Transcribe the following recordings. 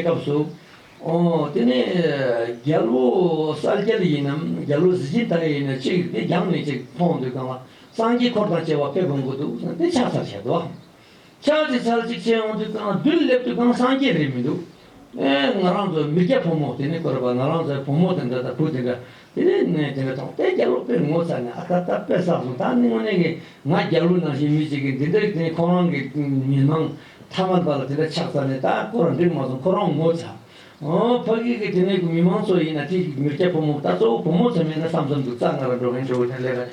སྐབས་སུ། དེ་ནས་རྒྱལ་བོ་གསར་རྒྱལ་ཡིན་ནམ་རྒྱལ་བོ་གཟི་བརྗིད་ལྟ་བུ་ཡིན་ནམ་ཅིག་དེ་རྒྱང་ནས་ཅིག་མཐོང་འདུག་གམ། སངས་རྒྱས་འཁོར་དང་བཅས་པ་ཕེབས་འོང་གི་འདུག་གསུངས་ཏེ་ཕྱག་འཚལ་བྱས་དོ། ཕྱག་ཅིག་འཚལ་ཅིག་བྱས་འོང་དུས་ཀང་བདུད་སླེབས་དུས་ཀང་སངས་རྒྱས་རེད་མི་འདུག། ཨེ་ང་རང་ཚོ་མི་སྐྱ་ཕོ་མོ་དེ་ནས་བསྐོར་བ་ང་རང་ཚོའི་བུ་མོ་དེ་འདྲ་དང་བུ་དེ་འདྲ་དེ་ནས་ནས་དེ་ནས་ཐོག་མཐའི་རྒྱ་ལོ་དཔོན་ངོ་ཚ་ནས་ཨ་ད་ད་དཔེ་བསགས་སོང་ད་ནི་དངོས་གནས་ཀྱི་ང་རྒྱ་ལོ་ནང་བཞིན་མི་ཅིག་གིས་འདི་འདྲའི་དེ་ཁོ་རང་གི་མི་མང་མཐའ་མ་དག་ལ་དེ་འདྲ་ཆགས་ཚར་ནས་ད་ཁོ་རང་འགྲིག་མ་སོང་ཁོ་རང་ངོ་ཚ། ཨོ་ཕ་གི་གི་དེ་ནས་གི་མི་མང་ཚོ་ཡིན་ན་དེ་མི་སྐྱ་ཕོ་མོ་ད་གཙོ་བོ་བུ་མོ་ཚོ་མིན་ན་བསམ་བསམ་འདུག་རྩ་ང་རང་འགྲོ་མཁན་ཆོས་གོ་ཐན་ལས་ཀ་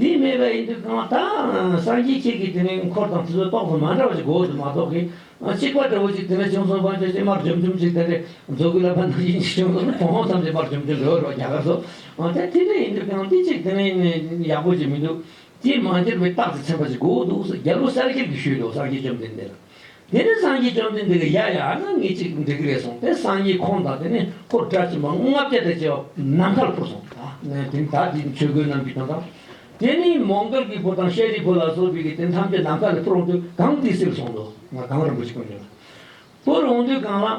དེས་སྨྲས་པ་ཡིན་དུས་གང་བ་དག་སངས་རྒྱས་ཁྱེད་ཀྱིས་དེ་མིན་འཁོར་དང་དེ་ཚོ་རྟོགས་སོ་མ་འདྲ་བ་ཅིག་གོ་དེ་མ་རྟོགས་གི། གཅིག་པ་འདྲ་བོ་ཅིག་དེ་ནས་བྱུང་སོང་བར་བྱ་ཞིང་མར་འཇོམས་འཇོམས་ཅིག་དེ་ནས་རྫོགས་སྐུ་ལ་ཕ་ནང་བཞིན་ཅིག་བྱུང་སོང་གོང་འོག་ཐམས་ཅད་མར་འཇོམས་འཇོམས་རེ་བ་རེ་བ་རྒྱ་གར་སོ། དེ་དེ་འདྲ་ཡིན་དུས་གང་དེ་ཅིག་དེ་མིན་ཡག་པོ་ཅིག་མི་འདུག་དེས་མ་འགྱུར་བའི་རྟགས་དེ་མཚན་པ་ཅིག་གོ་འདུག་སོ་རྒྱལ་པོ་གསར་སྒེར་གྱིས་ཞུས་ཏོ་སངས་རྒྱས་བཅོམ་ལྡན་འདས་ལ། དེ་ནས་སངས་རྒྱས་བཅོམ་ལྡན་འདས་ཀྱིས་ཡ་ཡ་ཨ་ན་ངེད་ཅིག་འགྲིག་གི་རེད་གསུངས་ཏེ་སངས་རྒྱས་ཁོང་དང་དེ་ནས་ཁོ་སྒྲ་གཅན་པ་ལྔ་བརྒྱ་དང་བཅས་པ་ནམ་མཁའ་ལ་འཕུར་སོང། དེ་ནས་ད་དེ་ནི་ཆོས་གོས་རྣམས་ཀྱི་དོན་དང། དེ་ནས་མོང་གཏོར་གྱི་བུ་དང་ཤཱ་རིའི་བུ་ལ་སོགས་བུད་ཀྱིས་དེ་ཐམས་ཅད་ནམ་མཁའ་ལ་འཕུར་འོང་དུས་གངས་ཏི་སེར་བྱུང། གངས་རིན་པོ་ཆེ་ཁོ་ནས་འཕུར་འོང་དུས་གངས་ལ།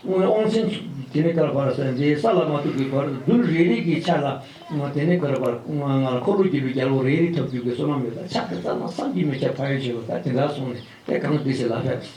སྔོན་ཨོང་ཆེན་དེ་ནི་ཀར་བར་སེ་འདི་ས་ལ་མ་ཐུག་གི་བར་དུ་རྡུལ་རེ་རེ་གྱི་ཆ་ལ་དེ་ནི་ཀར་བར་ང་ལ་འཁོར་ལོ་བརྒྱད་པའི་རྒྱལ་པོ་རེ་རེ་འཐབ་རྒྱུག་གི་བསོད་ནམས་ཡོད་ལ་ཕྱག་དེ་ཙམ་ན་བསམ་གྱིས་མི་ཁྱབ་ཕ་ཡུལ་ཆེན་པོ་ད་དེ་འདྲ་སོང་ནས་དེ་གང་དེ་ཞིག་ལ་ཕེབས།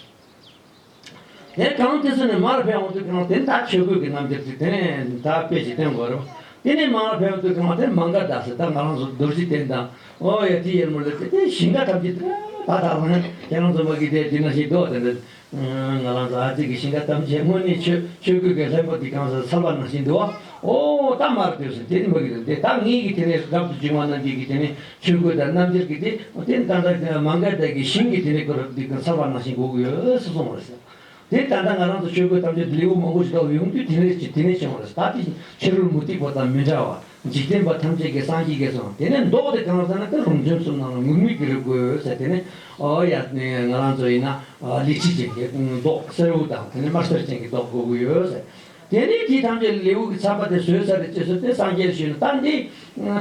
དེ་གང་དེ་སོང་ནས་མར་ཕེབས་འོང་དུས་གང་དེ་མདའ་ཆོས་གོས་ཀྱི་རྣམ་འགྱུར་གྱིས་དེ་ནི་མདའ་དཔེ་ཞིག་སྟོན་དགོས་རུང་དེ་ནི་མར་ཕེབས་འོང་དུས་གང་དེ་མང་ག་ད་སྲིད་ད་ང་རང་ཚོ་རྡོ་རྗེ་གདན་དང་ཨོ་ཡ་དེ་ཡར་མོ་ལེ་ཚེ་དེ་ཞིང་ག་ཐམས་ཅད་དེ་ད་ད་རང་ཁྱེད་རང་ཚོ་མ་གིས་དེ་དེ་ན་ཞིག་རྡོ་དེ་འདྲ་ང་རང་ཟླ་གཅིག་གི་ཞིང་ཁ་ཐམས་ཅད་སྔོན་གནས་མཆོད་ཆོས་གོས་ཀྱི་ལྷའི་བུ་དེ་གང་སར་ཚར་བ་ནང་བཞིན་དུ་ཨོ་རྟ་དམར་དེ་སུ་དེ་ནི་མི་གི་དོན་ཏེ་ད་ངེད་ཀྱི་དེ་ནས་སུ་རབ་ཏུ་བྱུང་བ་རྣམས་ཀྱིས་ཀྱི་དེ་ནི་ཆོས་གོས་དང་རྣམ་འབྱར་གྱི་དེ་དེ་ནི་ད་ལྟ་མ་འགལ་དག་གི་ཞིང་གི་དེ་ནས་གོས་དེ་གང་ཚར་བ་ནང་བཞིན་གོ་གི་ཡོད་སུ་གསུང་བར་སེམས། དེ་ད་ལྟ་ང་རང་ཚོ་ཆོས་གོས་ཐམས་ཅད་དུ་ལེའུ་མང་པོ་ཞིག་དོགས་ཡོང་དུས་དེ་ནས་བྱུང་བ་རེད་ད་དེ་བཞིན་ཕྱི་རོལ་མུ་ཏིག་པོ་དང་མི་འདྲ་བ་འཇིག་རྟེན་པ་ཐམས་ཅད་ཀྱིས་སངས་རྒྱས་སོ། དེ་ནས་མདོག་དེ་གང་ཟེར་ན་ཀར་རུང་ཚོན་གསུམ་ནང་ལ་ངུར་སྨྲིག་གི་རི་དགོད་ཟེར་དེ་ནས་ཨོ་ཡ། ང་རང་ཚོ་ཡིན་ན་ལི་ཁྲི་ཅན་གྱི་མདོག་སེར་བོ་དང་དེ་ནས་དམར་སེར་ཅན་གྱི་མདོག་དགོད་གི་ཡོད་ཟེར། དེ་ནས་དེ་ཐམས་ཅད་ལེའུ་གི་ཚགས་པ་དེ་ཟོས་ཚར་རེ་ཅེས་ཟེར་ཏེ་སངས་རྒྱས་ཞུས་ན་ད་འདི་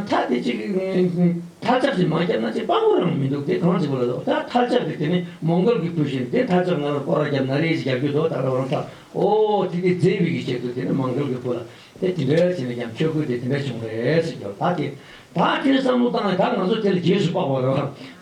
ཐ་དེ་ཅིག་ཐལ་ཆབ་ཅིག་མ་བརྒྱབ་ན་ཅིག་དཔང་པོ་རང་མི་འདུག་དེ་གང་བྱེད་དགོས་ལ་དོ་ད་ཐལ་ཆབ་དེ་དེ་ནས་མོང་གོལ་གྱི་བུ་བཞིན་དེ་ཐལ་ཆབ་ང་ལ་སྐོར་ར་བརྒྱབ་ན་རེ་ཅིག་རྒྱབ་རྒྱུ་དོ་ད་རོགས་རམ་ཐལ་ཨོ་དེ་དེ་རྫས་དབུལ་གྱིས་བྱེད་དོ་དེ་ནས་མང་གོལ་གྱི་བུ་ལ་དེ་དེ་འདྲའི་བྱས་ནས་ཀྱང་ཆོས་སྐུ་དེ་དེ་འདྲ་བྱུང་རེད་ཟེར་གྱི་རོ། ད་དེ་དག་ཁྱོད་བསམ་བློ་བཏང་ནས་ད་ང་ཚོ་དེ་ལ་རྗེས་སུ་དཔག་པར་རོ།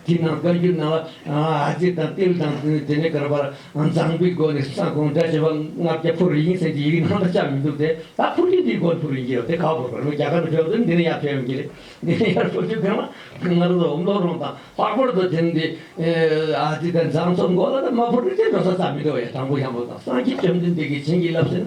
དེས་ན་བཀའ་འགྱུར་ནང་ལ་ཏིལ་དང་ཏིལ་དང་དེ་ནས་གར་བར་མཛངས་པའི་སྒོ་ནས་སྲང་གོང་སྒྲ་བྱེད་པ་ལྔ་བརྒྱ་ཕུར་རིན་ཟེར་གྱི་ཡི་གེ་ནང་དུ་བཅག་མི་འདུག་སྟེ་ད་ཕུར་རིན་དེའི་སྒོ་ནས་ཕུར་རིན་གྱི་རོ་དེ་ག་བོར་བར་རྒྱ་གར་ནས་བོད་དུ་འདི་ནས་ཡར་ཕེབས་ཡོང་གི་རེད། འདི་ནས་ཡར་ཕེབས་ཆོག་གི་རང་ལ་ང་རང་ཚོ་བློ་རོང་དང་ལྷག་པར་དུ་དེ་འདི་ཏིལ་དང་མཛངས་ཚོ་མགོ་ལ་ནས་མ་ཕུར་རིན་དེ་འགྲོ་ས་ཙམ་མི་འདུག་ཡ་དྲང་པོ་ཞང་པོ་དང་སངས་རྒྱས་བཅོམ་ལྡན་འདས་ཀྱིས་བྱིན་གྱིས་བརླབས་ཟེར་ན།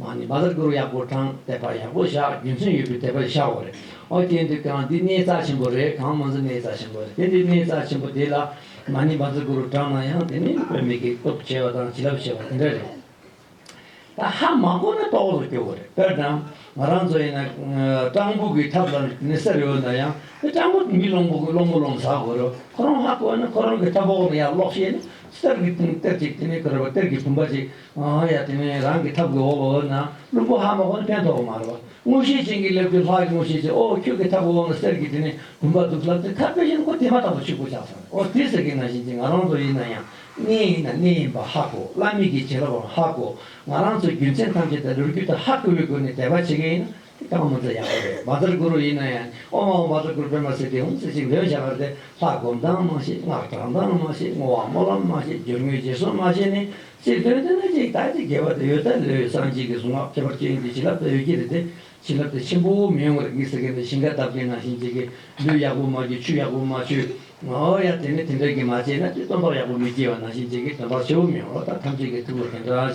ང་ནི་མ་ལ་གུ་རུ་ཡག་པོ་དྲང་བདེན་པ་ཡག་པོ་བཞག་རྒྱུ་མཚན་ཡོད་པའི་དད་པ་ཤ་བོ་རེད་ཨོ་དེ་འདི་གང་འདི་གནས་རྩ་ཆེན་པོ་རེད་གང་མ་འཛི་གནས་རྩ་ཆེན་པོ་རེད་དེ་འདི་གནས་རྩ་ཆེན་པོ་དེ་ལ་ང་ནི་མ་འཛི་གུ་རུ་དྲང་ན་ཡང་དེ་ནི་བོད་མི་གི་སྟོབས་ཆེ་བ་དང་བྱིན་རླབས་ཆེ་བ་དེ་འདྲ་རེད་ད་ཧ་མ་གོ་ན་ལྟོགས་སུ་སྐྱོ་བོ་རེད་དཔེར་ན་ང་རང་ཚོ་ཡིན་ན་སྤྲང་པོ་གི་ཐབས་ལ་ནི་སེར་ཡོད་ན་ཡང་དེ་སྤྲང་པོ་མི་སློང་པོ་གི་སློང་མོ་ལོང་ཟ་དགོས་རོ་ཁོ་རང་ཧ་གོ་ན་ཁོ་རང་གི་ཐབས་འོག་ནས་ཡར་ལོག་ཤེས་ན་གཏེར་གི་གཏེར་ཅིག་དེ་ནི་གུ་རུ་པ་གཏེར་གི་བུམ་པ་ཅིག། ཨ་ཡ་དེ་ནས་རང་གི་ཐབ་ཀྱི་འོག་འོག་ན་བླུན་པོ་ཧ་མ་གོ་ནི་ཕན་ཐོགས་པ་མ་རེད་པ། དངོས་གཞི་ཅན་གྱི་སླེབས་དུས་ལྷག་གི་དངོས་གཞི་ཅན་ཨོ་ཁྱོད་ཀྱི་ཐབ་ཀྱི་འོག་ན་གསེར་གྱི་དེ་ནས་བུམ་པ་འདུག་ལབ་ཏེ་ཁ་བོད་གཞོན་སྐུ་དེ་མ་ཐག་ཏུ་ཕྱུག་པོ་ཆགས་སོང་བས་ཨོ་དེ་ཟེར་གི་ན་བཞིན་གྱི་ང་རང་ཚོ་ཡིན་ན་ཡང་གནས་ཡིན་ན་གནས་ཡིན་པ་ཧ་གོ་བླ་མེད་ཀྱི་བྱེད་རབས་པའང་ཧ་གོ་ང་རང་ཚོའི་རྒྱུ་མཚན་ཐམས་ཅད་དང་ལུས་རྒྱུ་དང་ཧ་གོ་བའི་སྒོ་ནས་དད་པ་བྱེད་མཁན་ཡིན་ན་དེ་དག་མུ་མཐུད་ཡག་པོ་རེད་བཱ་ཙར་གུ་རུ་ཡིན་ན་ཡང་ཨོ་མ་ཨོ་བཱ་ཙར་གུ་རུ་པད་མ་སི་ཏི་ཧོམ་སི་ཅིག་འདོན་བྱ་བར་དེ་ལྷ་སྒོམ་སྟངས་མ་ཤེས་སྔགས་བགྲང་སྟངས་མ་ཤེས་བསྔོ་བ་སྨོན་ལམ་མ་ཤེས་སྦྱོར་དངོས་རྗེས་བཟུང་མ་ཤེས་ནི་སྲིད་དོན་དེ་ན་གཅིག་དག་ཅིག་དགེ་བ་དེ་ཡོད་ད་ལོའི་སངས་རྒྱས་ཀྱི་གཟུངས་སྔགས་ཁྱད་པར་ཅན་གྱི་བྱིན་རླབས་དེ་ཡོད་ཀྱི་རེད་དེ་བྱིན་རླབས་དེ་ཆེན་པོ་མི་ཡོང་བ་རེད་མི་ཟེར་མཁན་དེ་ཞིང་ཁ་འདབས་ཀྱི་ནང་བཞིན་བྱེད་ཀྱི་ལུས་ཡག་པོ་མ་རྒྱུ་ཆུ་ཡག་པོ་མ་ཆུད་ཨོ་ཡ་དེ་ནི་དེ་འདྲ་གི་མ་བྱས་ན་དེ་སྟོན་པ་ཡག་པོ་མི་སྐྱེ་བ་ནང་བཞིན་བྱེད་ཀྱི་དོན་པར་ཆེ་བོ་མི་ཡོང་རོགས་ད་ཐམས་ཅད་ཀྱི་ཐུགས་ལ་དེ་འདྲ་བྱ།